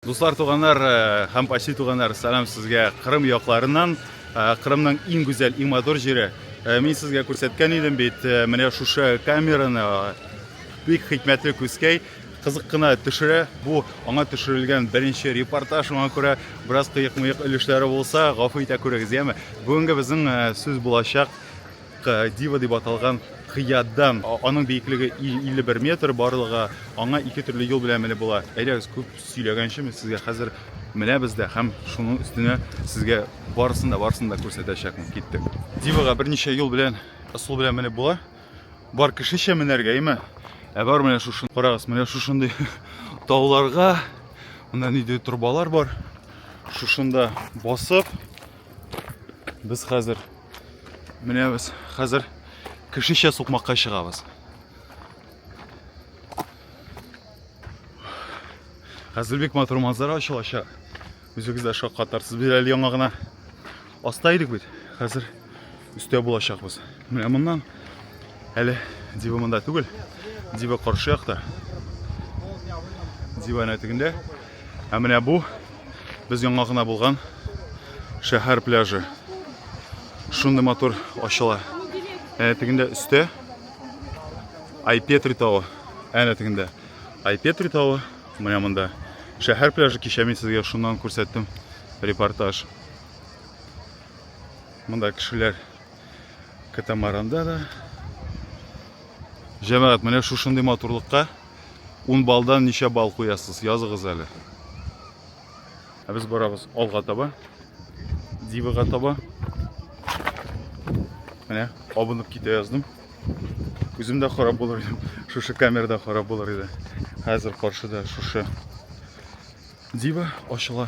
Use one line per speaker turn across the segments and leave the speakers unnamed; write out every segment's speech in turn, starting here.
Дуслар туганнар һәм почти туганнар, сәлам сезгә Кырым якларыннан, Кырымның иң гүзәл, иң матур җире. Мин сезгә күрсәткән идем бит, менә шушы камераны бик хикмәтле күзкәй кызык кына төшерә. Бу аңа төшерелгән беренче репортаж, шуңа күрә бераз кыек-мыек өлешләре булса, гафу итә күрегез, яме. Бүгенге безнең сүз булачак Дива дип аталган кыядан. Аның биеклеге 51 метр барлыгы. Аңа ике төрле юл белән менеп була. Әйдәгез, күп сөйләгәнче, мин сезгә хәзер менәбез дә һәм шуның өстенә сезгә барысын да, барысын да күрсәтәчәкмен. Киттек. Дивага берничә юл белән, ысул белән менеп була. Бар кешечә менәргә, әйме? Ә бар менә шушы. Карагыз, менә шушындый тауларга, монда нидер торбалар бар. Шушында басып, Без хәзер менә без хәзер кешечә сукмакка чыгабыз. Хәзер бик матур манзара ачылачак. Үзегез дә шаккатарсыз. Без әле яңа гына аста идек бит. Хәзер Өстә булачакбыз. Менә моннан әле дива монда түгел. Дива каршы якта. Дива әнә тегендә. Ә менә бу без яңа гына булган шәһәр пляжы. Шундый матур ачыла. Әнә тегендә өстә Айпетри тавы. Әнә тегендә Айпетри тавы. Менә монда шәһәр пляжы кичә мин сезгә шуннан күрсәттем репортаж. Монда кешеләр катамаранда да. Җәмәгать, менә шушындый матурлыкка 10 балдан ничә бал куясыз? Языгыз әле. Ә без барабыз алга таба. Дивага таба. Менә абынып китә яздым. Үзем дә харап булыр идем. Шушы камерада харап булыр иде. Хәзер каршыда шушы дива ачыла.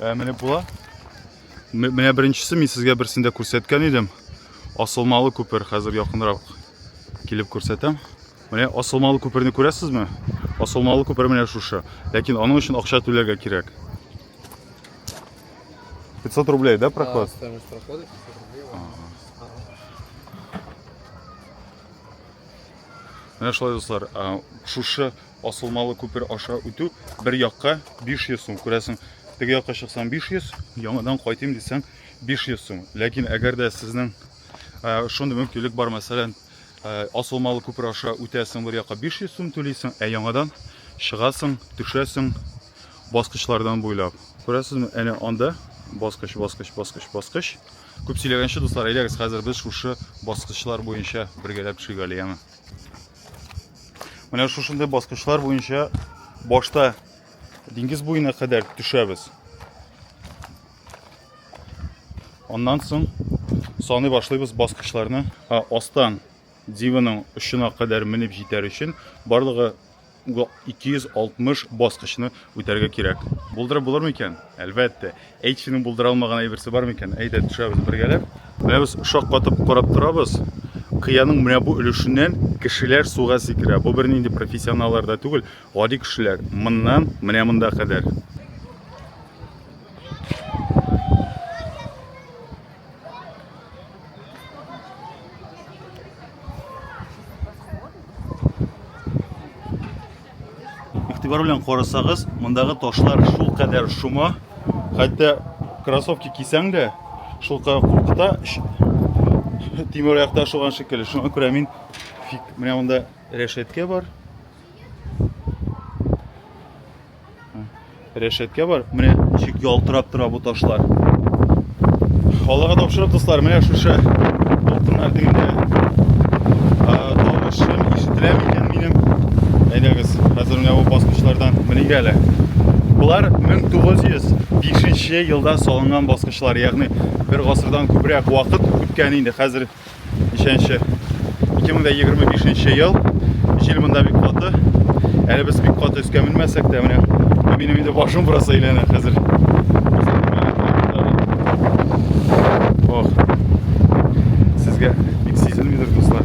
Ә менә була. Менә беренчесе мин сезгә берсендә күрсәткән идем. Асылмалы күпер хәзер якынрак килеп күрсәтәм. Менә асылмалы күперне күрәсезме? Асылмалы күпер менә шушы. Ләкин аның өчен акча түләргә кирәк. 500 рублей, да, проход? Да, стоимость прохода 500 рублей. Ага. Менә шулай, дуслар, шушы Асылмалы күпер аша үтү бер якка 500 сум, күрәсең, теге якка чыксаң 500, яңадан кайтыйм дисәң 500 сум. Ләкин әгәр дә сезнең ә, шундый мөмкинлек бар, мәсәлән, ә, Асылмалы күпер аша үтәсең бер якка 500 сум түлисең, ә яңадан чыгасың, төшәсең баскычлардан буйлап. Күрәсезме, әнә анда баскыч, баскыч, баскыч, баскыч. Күп сөйләгәнче, дуслар, әйдәгез, хәзер без шушы баскычлар буенча бергәләп төшик әле яңа. Менә шушындый баскычлар буенча башта диңгез буена кадәр төшәбез. Аннан соң саны башлыйбыз баскычларны. Ха, астан дивының очына кадәр менеп җитәр өчен барлыгы 260 баскычны үтәргә кирәк. Булдырып булыр микән? Әлбәттә. Әй, кешенең булдыра алмаган әйберсе бар микән? Әйдә, төшәбез бергәләп. Менә без шаккатып карап торабыз. Кыяның менә бу өлешеннән кешеләр суга сикерә. Бу бернинди профессионаллар да түгел, гади кешеләр. Моннан менә монда кадәр. Игътибар белән карасагыз, мондагы ташлар шул кадәр шома, хәтта кроссовки кисәң дә, шул кадәр куркыта, тимер аякта ашыган шикелле. Шуңа күрә мин менә монда рәшәткә бар. Рәшәткә бар. Менә ничек ялтырап тора бу ташлар. Аллага тапшырып, дуслар, менә шушы алтыннар дигәндә тавышым ишетелә микән минем? Әйдәгез, хәзер менә бу баскычлардан меник әле. Болар 1905 елда салынган баскычлар, ягъни бер гасырдан күбрәк вакыт үткән инде. Хәзер Ничәнче? 2025 ел. Җил монда бик каты. Әле без бик каты өскә менмәсәк тә, менә минем инде башым бераз әйләнә хәзер. Ох. Сезгә бик сизелмидер, дуслар.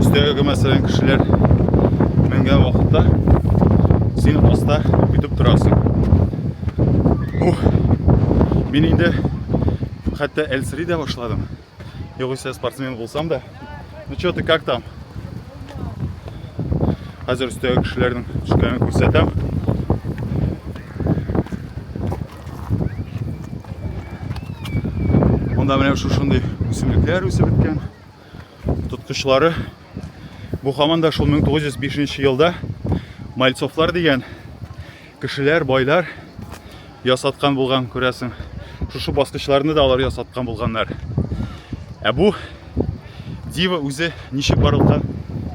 Өстәгә мәсәлән кешеләр менгән вакытта син аста көтеп торасың. Ух, мин инде хәтта әлсери дә башладым. Югыйсә спортсмен булсам да. Ну что ты, как там? Хәзер өстәге кешеләрнең төшкәнен күрсәтәм. Монда менә шушындый үсемлекләр үсеп беткән. тоткычлары. Бу хаман да шул 1905 елда Мальцовлар дигән кешеләр, байлар ясаткан булган, күрәсең. Шушы баскычларны да алар ясаткан булганнар. Ә бу дива үзе ничек барлыкка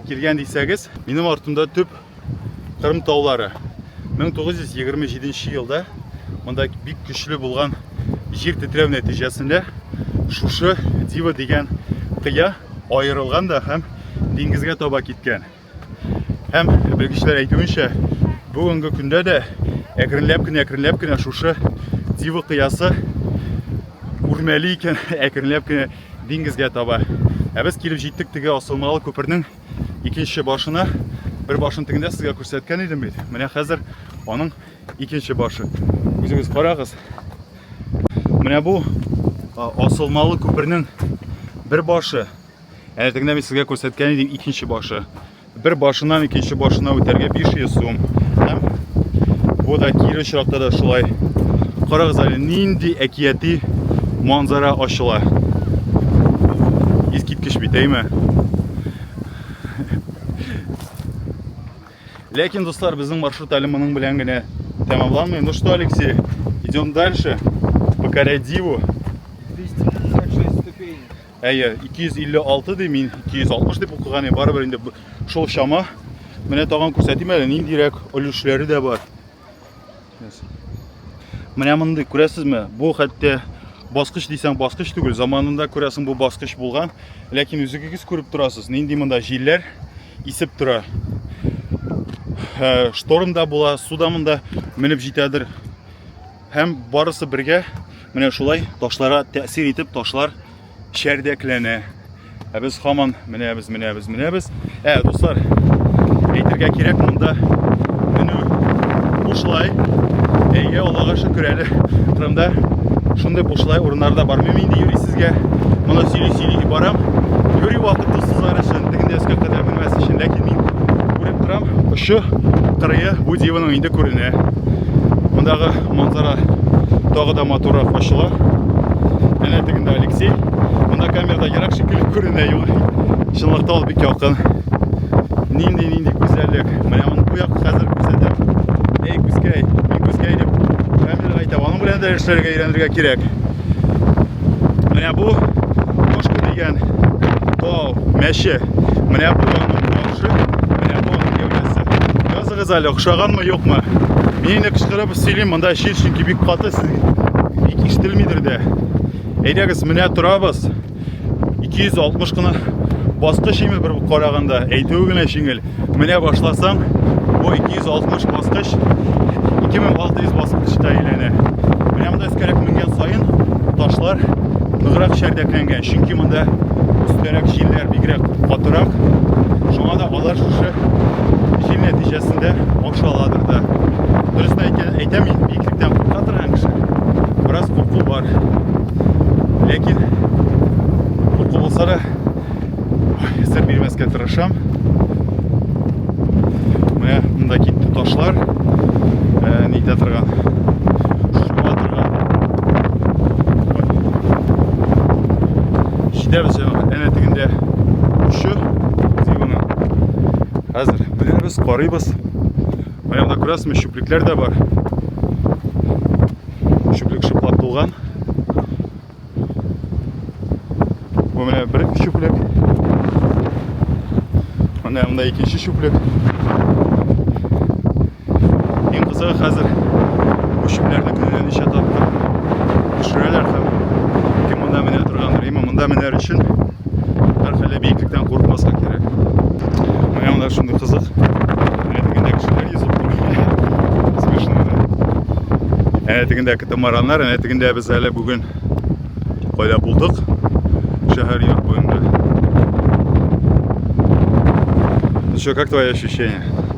килгән дисәгез, минем артымда төп Кырым таулары. 1927 елда монда бик көчле булган җир тетрәү нәтиҗәсендә шушы Дива дигән кыя аерылган да һәм диңгезгә таба киткән. Һәм белгечләр әйтүенчә, бүгенге көндә дә әкренләп кенә әкренләп кенә шушы Дива кыясы үрмәли икән, әкренләп кенә диңгезгә таба. Ә без килеп җиттек теге асылмалы күпернең икенче башына бер башын тегендә сезгә күрсәткән идем бит менә хәзер аның икенче башы үзегез карагыз менә бу асылмалы күпернең бер башы әнә тегендә мин сезгә күрсәткән идем икенче башы бер башыннан икенче башына үтәргә 500 сум һәм бу да кире очракта да шулай карагыз әле нинди әкияти манзара ачыла Кеш битәйме? Ләкин, дуслар, безнең маршрут әле моның белән генә тәмамланмый. Ну что, Алексей, идем дальше, покоря Диву. 256 ступени.
Әйе,
256 ди мин, 260 дип укыган, барыбер инде шул чама. Менә тагын күрсәтим әле, ниндирәк өлешләре дә бар. Менә мондый, күрәсезме? Бу хәтта баскыч дисәң баскыч түгел. Заманында күрәсең бу баскыч булган. Ләкин үзегез күреп торасыз, нинди монда җилләр исеп тора. Ә, шторм да була, су да монда менеп җитәдер. Һәм барысы бергә менә шулай ташларга тәэсир итеп ташлар чәрдәкләнә. Ә без хаман менәбез, менәбез, менәбез. Ә, дуслар, әйтергә кирәк монда менү бушлай. Әйе, Аллага шөкер әле Кырымда шундый бушлай урыннарда бармыйм инде юри сезгә. Моны сөйли сөйли барам. Юри вакыт дуслар өчен, тегендә өскә кадәр менмәс өчен, ләкин мин күреп торам, очы кырые бу диваның инде күренә. Мондагы манзара тагы да матуррак ачыла. Әнә тегендә Алексей. Монда камерада ерак шикелле күренә юк. Чынлыкта ул бик якын. Нинди нинди гүзәллек. Менә аны бу як хәзер күрсәтәм. Эй, күзкәй, мин күзкәй дип камерага әйтәм. Аның белән дә эшләргә өйрәнергә кирәк. Менә бу Кошка дигән тау, мәче. Менә бу аның башы. Кыз әле охшаганмы, юкмы? Мин инде кычкырып сөйлим, монда чир чөнки бик каты сез бик ишетелмидер дә. Әйдәгез, менә торабыз. 260 кына баскыч име бер караганда, әйтүе генә җиңел. Менә башласаң, бу 260 баскыч 2600 баскычта әйләнә. Менә монда өскәрәк менгән саен ташлар ныграк чәрдәкләнгән, чөнки монда өстәрәк җилләр бигрәк катырак. Шуңа да Алар шушы җил нәтиҗәсендә ашаладыр да. Дөресен әйтә, әйтәм мин, биеклектән курка торган кеше. Бераз курку бар. Ләкин курку булса да сер бирмәскә тырышам. Менә монда китте ташлар. Ә, нитә торган. Шуа торган. Җитәбез җәмәгать. Әнә тегендә очы. Хәзер белербез, карыйбыз. Аягына күрәсезме, чүплекләр дә бар. Чүплек шыплап тулган. Бу менә бер чүплек. Менә монда икенче чүплек. Иң кызыгы хәзер бу чүпләрне көненә ничә тапкыр төшерәләр һәм кем монда менә торгандыр. Именно монда менәр өчен һәрхәллә биеклектән курыкмаска кирәк. Менә монда шундый кызык. Менә тегендә кешеләр йөзеп тора. Смешно, да? Әнә тегендә катамараннар, әнә тегендә без әле бүген кайда булдык? Шәһәр йорт буенда. Ну что, как твои ощущения?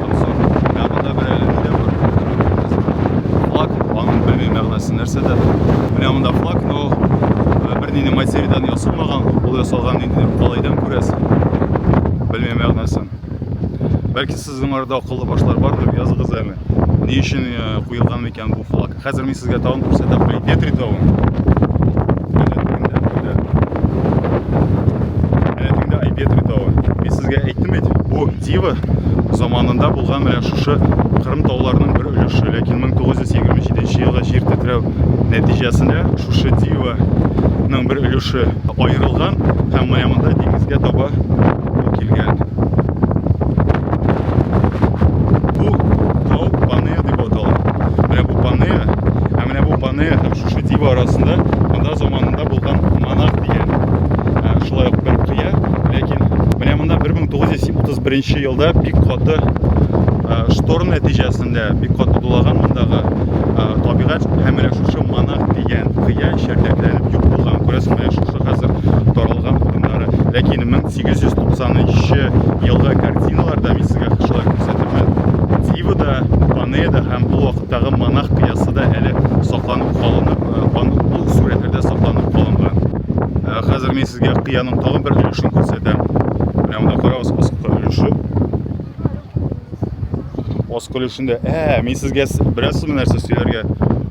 Аннан соң ягында бер әле нидә бар? Флаг, аның белмим мәгънәсе нәрсәдә. Менә монда флаг, но э, бер нинди материалдан ясалмаган, ул ясалган нинди калайдан күрәсең. Белмим мәгънәсен. Бәлки сезнең арада акыллы башлар бардыр, языгыз әле. Ни өчен э, куелган микән бу флаг? Хәзер мин сезгә тагын күрсәтәм Калипетри тавын. Әләтеңдә Айпетри тавы. Мин сезгә әйттем бит, бу Дива заманында булган менә шушы Кырым тауларының бер өлеше. Ләкин 1927 елда җир тетрәү нәтиҗәсендә шушы Диваның бер өлеше аерылган һәм менә монда диңгезгә таба Бу килгән. Бу тау панея дип атала. Менә бу панея, ә менә бу панея һәм шушы дива арасында монда заманында булган монах дигән шулай ук бер кыя, ләкин менә монда 1931 елда бик каты шторм нәтиҗәсендә бик каты дулаган мондагы табигать һәм менә шушы монах дигән кыя чәрдәкләнеп юк булган. Күрәсең, менә шушы хәзер таралган урыннар. кызыкны. Ләкин 1893 елгы картиналарда мин сезгә кышлар күрсәтермен. Дивода, Панеда һәм бу вакыттагы монах кыясы да әле сакланып калынып, бу сурәтләрдә сакланып калынган. Хәзер мин сезгә кыяның тагын бер өлешен күрсәтәм. Менә монда карагыз, аскы өлеше. Аз көлешендә. Ә, мин сезгә бераз сумы нәрсә сөйләргә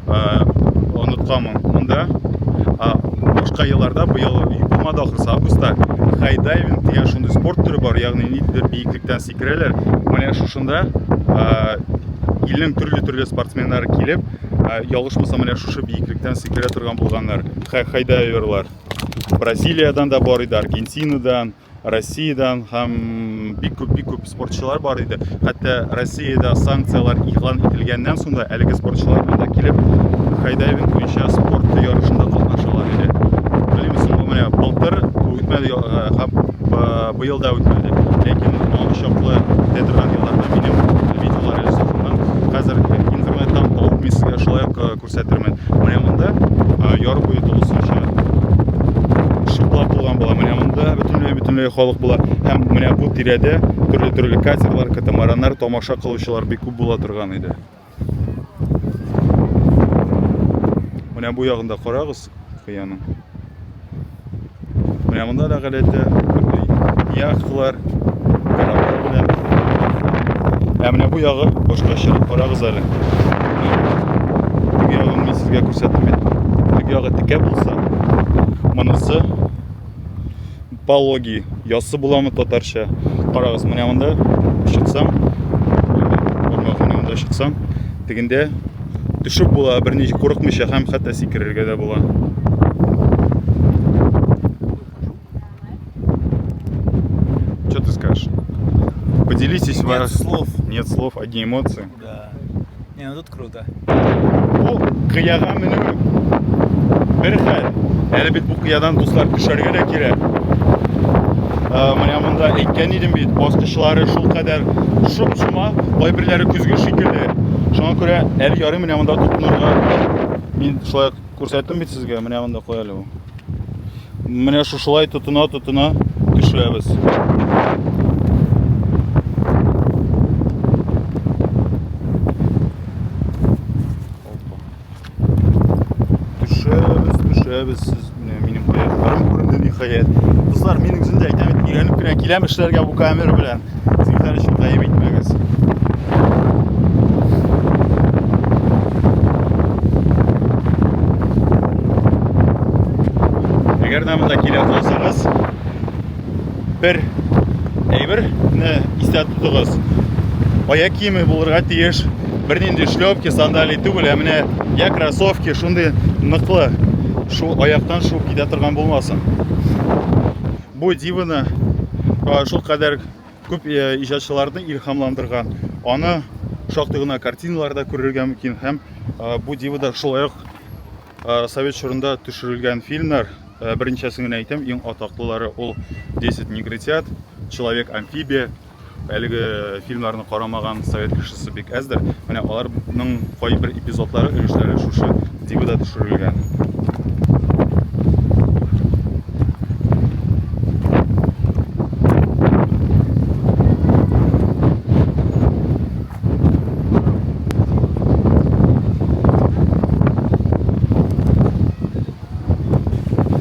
онытканмын. Монда башка елларда быел булмады ахрысы августта хайдайвинг дигән шундый спорт төре бар, ягъни ниндидер биеклектән сикерәләр. Менә шушында илнең төрле-төрле спортсменнары килеп, ялгышмасам, менә шушы биеклектән сикерә торган булганнар. Хайдайверлар. Бразилиядән дә бар иде, Аргентинадан, Россиядән һәм бик күп бик күп спортчылар бар иде. Хәтта Россиядә санкцияләр игълан ителгәннән соң да әлеге спортчылар монда килеп хайдайвинг буенча спорт ярышында катнашалар иде. Белмисең, бу менә былтыр үтмәде э, һәм э, быел да үтмәде. Ләкин аңа чаклы дәтерган елларда минем видеолар ясавымнан хәзер интернеттан табып мин сезгә шулай ук э, Күрсәтермен. Менә монда яр буе тулысынча шиплап булган була. Менә монда бөтенләй бөтенләй халык була. Һәм менә бу тирәдә төрле төрле катерлар, катамараннар, тамаша кылучылар бик күп була торган иде. Менә бу ягында карагыз. кыяның. Менә монда да галәте, яхталар, кораблар белән. Ә менә бу ягы башка чыгып карагыз әле. Теге ягын мин сезгә күрсәттем бит. Теге ягы текә булса, монысы пологи ясы буламы татарча карагыз менә монда чыксам монда чыксам тегендә төшеп була берни курыкмыйча һәм хәтта сикерергә дә була что ты скажешь поделитесь нет слов
нет слов одни
эмоции
Да. Не, ну тут круто. Бу
кыяга менү бер хәл. Әле бит бу кыядан дуслар төшәргә дә кирәк. Ә, менә монда әйткән идем бит, баскычлары шул кадәр шоп-шома, кайберләре көзге шикелле. Шуңа күрә әле ярый менә монда тотынырга. Мин шулай Күрсәттем бит сезгә, менә монда куй әле ул. Менә шушылай тотына тотына төшерәбез. Төшерәбез, төшерәбез сез менә минем аякларым күренде ниһаять. Кызлар, мин үзем дә әйтәм, өйрәнеп кенә киләм эшләргә бу камера белән. Үзегезләр өчен гаеп итмәгез. Әгәр дә монда килә калсагыз, бер әйберне истә тотыгыз. Аяк киеме булырга тиеш, бернинди шлепки, сандали түгел, ә менә я кроссовки шундый ныклы, шу аяктан шуып китә торган булмасын. Бу диваны шул кадәр күп иҗатчыларны илһамландырган. Аны шактый гына картиналарда күрергә мөмкин һәм бу дивада шулай ук совет чорында төшерелгән фильмнар берничәсен генә әйтәм, иң атаклылары ул 10 негритят, Человек-амфибия, Әлеге фильмнарны карамаган совет кешесе бик әздер. Менә аларның кайбер эпизодлары, өлешләре шушы дивида төшерелгән.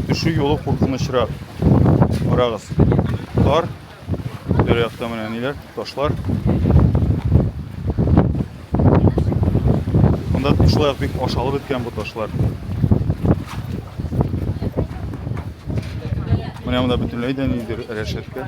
Төшү юлы куркынычрак. Карагыз. Тар Бер якта менә ниләр, ташлар. Монда шулай бик ашалып беткән бу ташлар. Менә монда бөтенләй дә нидер рәшәткә.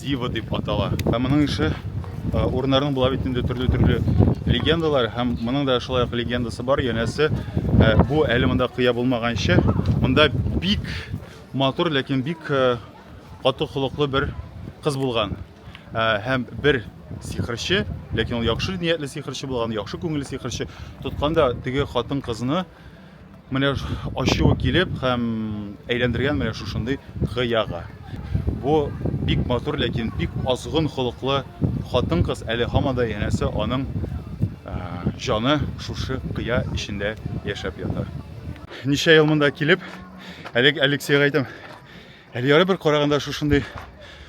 Дива дип атала. Һәм моның ише урыннарның була бит инде төрле-төрле легендалар һәм моның да шулай ук легендасы бар. Янәсе, бу әле монда кыя булмаганчы, монда бик матур, ләкин бик каты холыклы бер кыз булган. Һәм бер сихерче, ләкин ул яхшы ниятле сихерче булган, яхшы күңелле сихерче, тотканда теге хатын кызны Менә ачуы килеп һәм әйләндергән менә шушындый гыяга. Бу бик матур, ләкин бик азгын холыклы хатын-кыз әле һаман да янәсе аның җаны шушы кыя эчендә яшәп ята. Ничә ел монда килеп, әлеге Алексейга әйтәм, Әле ярый бер караганда шушындый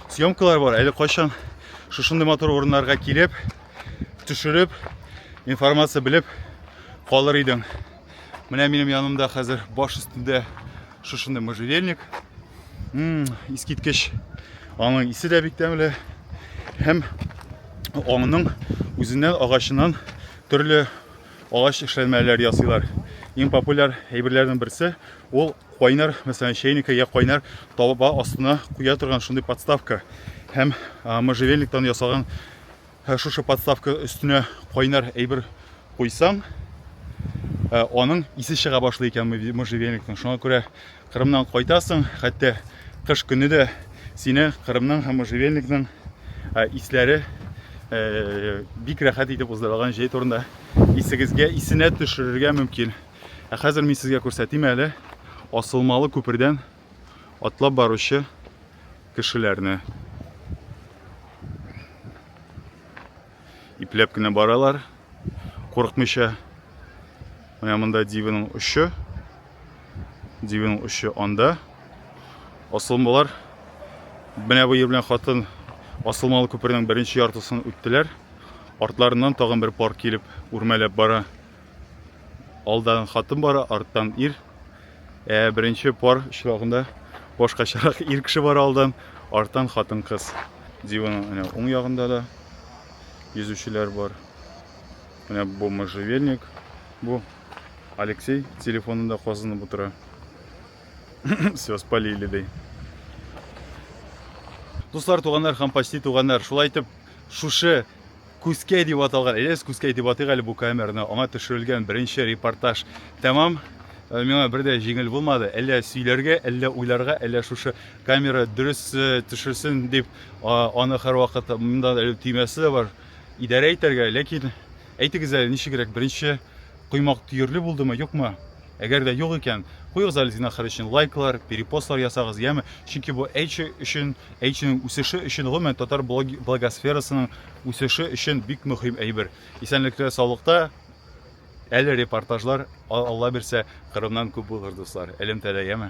съемкалар бар. Әле кайчан шушындый матур урыннарга килеп, төшереп, информация белеп калыр идең. Менә минем янымда хәзер баш өстендә шушындый можжевельник. Искиткеч. Аның исе дә бик тәмле. Һәм аңның үзеннән агачыннан төрле Агач эшләнмәләр ясыйлар. Иң популяр әйберләрнең берсе ул кайнар, мәсәлән, чәйнеккә я кайнар таба астына куя торган шундый подставка. Һәм можжевельниктан ясаган шушы подставка өстенә кайнар әйбер куйсаң, аның исе чыга башлый икән можжевельниктан. Шуңа күрә Кырымнан кайтасың, хәтта кыш көне дә сине Кырымның һәм Можевельникның э, исләре э, бик рәхәт итеп уздырылган җәй турында исегезгә исенә төшерергә мөмкин. Ә хәзер мин сезгә күрсәтим әле асылмалы күпердән атлап баручы кешеләрне. Ипләп кенә баралар, курыкмыйча. Менә монда дивиның очы. Дивиның очы анда. Асылмалар. Менә бу белән хатын асылмалы күпернең беренче яртысын үттеләр. Артларыннан тагын бер пар килеп үрмәләп бара. Алдан хатын бара, арттан ир. Ә беренче пар очрагында башкачарак ир кеше бара алдан, арттан хатын-кыз. Диваның менә уң ягында да йөзүчеләр бар. Менә бу можжевельник. Бу Алексей телефонында казынып утыра. Все, спалили ди. Дуслар, туганнар һәм почти туганнар, шулай итеп, шушы Күзкәй дип аталган, әйдәгез Күзкәй дип атыйк әле бу камераны, аңа төшерелгән беренче репортаж тәмам. Э, миңа бер дә җиңел булмады. Әллә сөйләргә, әллә уйларга, әллә шушы камера дөрес э, төшерсен дип, аны һәрвакыт монда әле төймәсе дә бар, идарә итәргә. Ләкин әйтегез әле, ничегрәк беренче Коймак төерле булдымы, юкмы? Әгәр дә юк икән, куегыз әле зинахар өчен лайклар, перепостлар ясагыз, яме, чөнки бу Эйчи өчен, Эйчиның үсеше өчен, гомумән татар блогосферасының үсеше өчен бик мөхим әйбер. Исәнлектә, саулыкта, әле репортажлар, Алла бирсә, Кырымнан күп булыр, дуслар, элемтәдә, яме.